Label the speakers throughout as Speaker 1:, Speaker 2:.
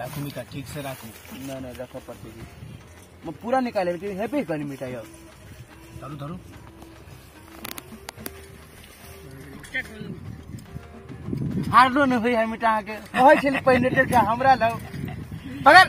Speaker 1: राखू मिटा ठीक से राखू ना ना रखो पड़ते जी मैं पूरा निकाले लेकिन है पे कहीं मिटा यार धरू धरू हारलो नहीं हुई है मिटा के कहै छल पहिने टेल के हमरा लग पकड़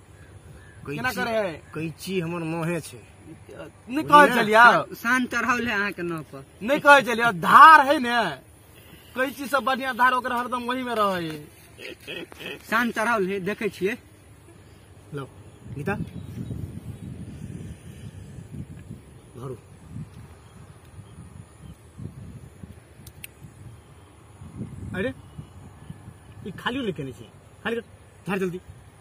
Speaker 1: केना करे है कैची हमर नहे छै नहीं कहे चलिया शान चढ़ावल है अहाँ के नाव पर नहीं कहे चलिया धार है ने कैची सब बढ़िया धार ओकरा हरदम वही में रहे है शान चढ़ावल है देखे छिए लो गीता धरू अरे ई खाली लेके नहीं छै खाली कर, झाड़ जल्दी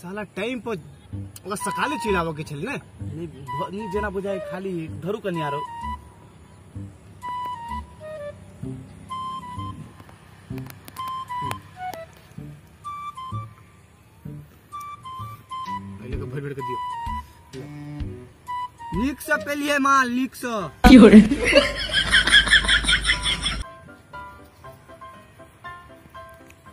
Speaker 1: साला टाइम पर ओकरा सकाले चलि आबऽ के छलै ने ई भ- ई जेना बुझाय खाली धरू कनि आरो पहिले के भरि भरि के दियौ नीक से पेलिए माँ नीक से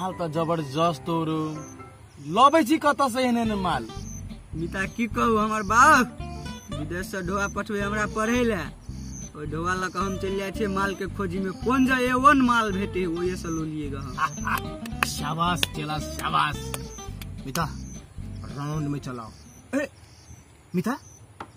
Speaker 1: माल त जबरदस्त हो रो लबै छी कतऽ से एहन एहन माल मिता की कहू हमर बाप विदेश से ढोआ पठबे हमरा पढ़े ले ओहि ढोआ लऽ कऽ हम चलि जाइ छियै माल के खोजी में कोन जे एवन माल भेटे ओहे से लो लिएगा हम शाबाश चला शाबाश मिता राउंड में चलाओ ए, मिता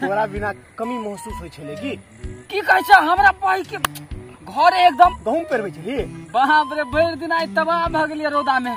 Speaker 1: तोरा बिना कमी महसूस होइ छलै की की कहै छै हमरा पाइ के घर एकदम गहूम पेरबै छली बाप रे भरि दिन आइ तबाह भऽ गेलियै रौदा में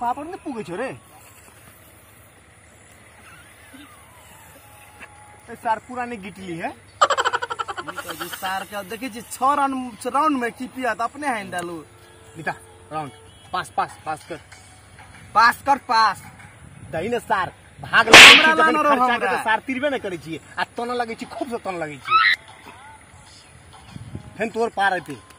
Speaker 1: पापड़ ने पुगे छो रे ए सार पुराने गिटली है जी सार के देखे जी छह रन राउंड में की पिया तो अपने हैंड डालू बिता राउंड पास पास पास कर पास कर पास दही ने सार भाग लगे छी हमरा जखन लानो रहो खर्चा के हमरा। तो सार तिरबे न करे छी आ तन लगे छी खूब से तन लगे छी फेन तोर पार आते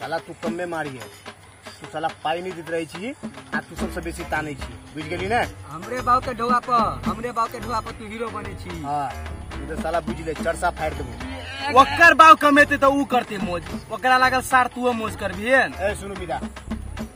Speaker 1: साला तू कमे मारिए तू साला पाई नहीं देते रहे छी आ तू सबसे बेसी ताने छी बुझ गेली ने हमरे बाव के ढोआ पर हमरे बाव के ढोआ पर तू हीरो बने छी हाँ तू तो साला बुझ ले चरसा फाड़ देबो ओकर बाव कमेते तो ऊ करते मौज ओकरा लागल सार तू मौज करबी ए सुनु बिदा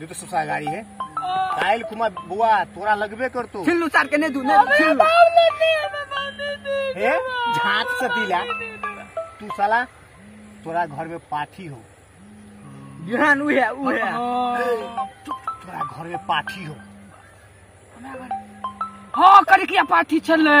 Speaker 1: दे तो सबसे गाड़ी है कायल कुमार बुआ तोरा लगबे कर तू फिल्म उतार के नहीं दू नहीं फिल्म हे झाट से दिला तू साला तोरा घर में पाठी हो बिहान उ है उ है तोरा घर में पाठी हो हाँ करिकिया पाठी छलै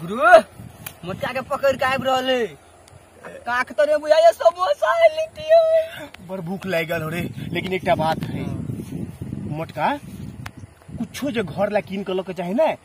Speaker 1: गुरु मोटका के पकड़ के आबि रहल है काक तो रे बुझाइए समोसा है लिट्टी है बड़ भूख लागि गेल हो रे लेकिन एकटा बात है मोटका कुछो जे घर ला कीन के लऽ के चाही ने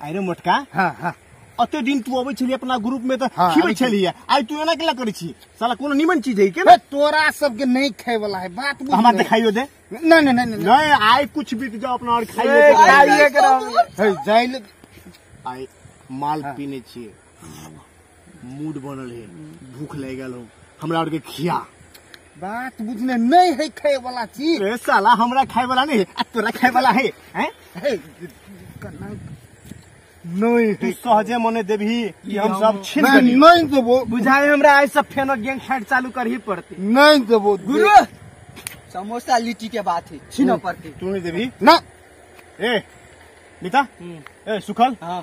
Speaker 1: अरे मोटका हाँ हाँ अते दिन तू अबै छली अपना ग्रुप में त हाँ, खिबै अबै छी। छली आइ तू एना केला करै छी साला कोनो निमन चीज है के बे, तोरा सबके नहीं खाए वाला है बात बुझ हमरा ले। देखाइयो दे नहीं नहीं नहीं नहीं नहीं आइ कुछ बीत जाओ अपना और ए, खाइयो दे। खाइए के रहबै। है, जाइल आइ माल पीने छिए मूड बनल है भूख लग गल हो हमरा आर के खिया बात बुझने नहीं है खाए वाला चीज ए साला हमरा खाए वाला नहीं है आ तोरा खाए वाला है हैं है कना नहीं तू सहजे मने देबही कि हम सब छीन मैं देबही नहीं देबो बुझाए हमरा आज सब फेनो गैंग फाइट चालू करही पड़ते नहीं देबो गुरु समोसा लिट्टी के बात है छीनो पड़ती तू नहीं देबही ना ए नीता ए सुखल हाँ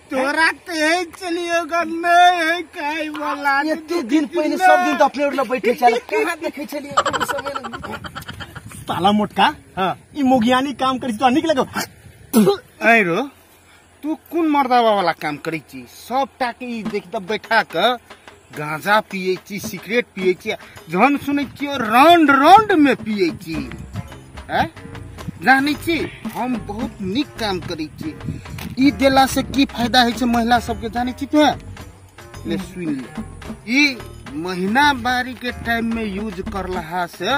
Speaker 1: तोरा कहे चलियो गा नहीं है कहे वाला एते दिन पहिले सब दिन त अपने उठले बैठे छल कहाँ देखे छलिए कोनो समय न साला मोटका हाँ ई मोगियानी काम करी तो निक लगो ऐ रो तू कौन मर्दावा वाला काम करी छी सब टाके ई देख त बैठा क गांजा पिए छी सिगरेट पिए छी जहन सुनै छियै राउंड राउंड में पिए छी हैं जानै छी हम बहुत नीक काम करै छी ई देला से की फायदा होइ छै महिला सबके जानै छी तोहे ले सुन ले ई महीना बारी के टाइम में यूज करला से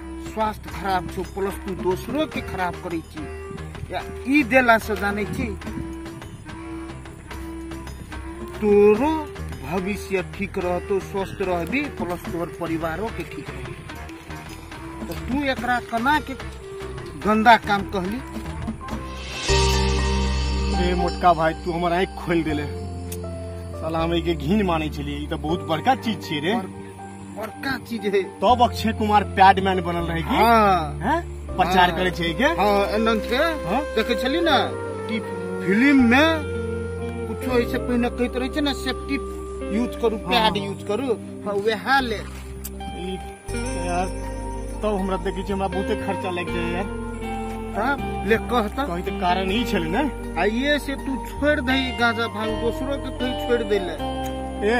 Speaker 1: स्वास्थ्य खराब छौ प्लस तू दोसरो के खराब करै छी या ई देला से जानै छी तोरो भविष्य ठीक रहतो स्वस्थ रहबी प्लस तोहर परिवारो के ठीक रहबी तो तू एकरा कना के गंदा काम कहली रे मोटका भाई तू हमर आँखि खोलि देले साला हम एके घिन मानै छलियै ई तऽ बहुत बड़का चीज छियै रे बड़का चीज है तब अक्षय कुमार पैड मैन बनल रहे की हाँ हैं? प्रचार हाँ। करे छै के हाँ एनन से हाँ? देखे छली ना कि फिल्म में कुछो ऐसे पहिने कहते रहे छै ना सेफ्टी यूज करू पैड यूज करू हाँ वह ले ई, यार तब हमरा देखै छै हमरा बहुते खर्चा लागि जाय यार तब ले कहता कहीं तऽ कारण ई छलै ने आइए से तू छोड़ दही गांजा भांग दोसरो के कहीं छोड़ दे ले ए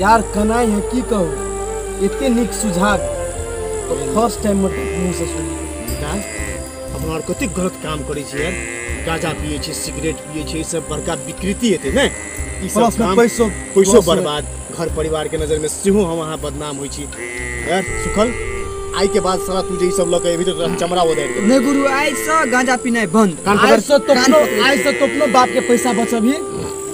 Speaker 1: यार कनाई है की कहू एते नीक सुझाव तो फर्स्ट टाइम मत मुंह से सुनी विकास अपना आर कते गलत काम करै छी यार गाजा पिए छी सिगरेट पिए छी ई सब बड़का विकृति हेतै ने ई प्लस सब में काम पैसो पैसो loss बर्बाद घर परिवार के नजर में सेहो हम अहाँ बदनाम होइ छी यार सुखल आइ के बाद साला तू जे ई सब लऽ के एबही तऽ तोरा चमड़ा उदारि देबै नहीं गुरु आई से गांजा पीना बंद कान पकड़। आइ से तोपनो आइ से तोपनो बाप के पैसा बचबही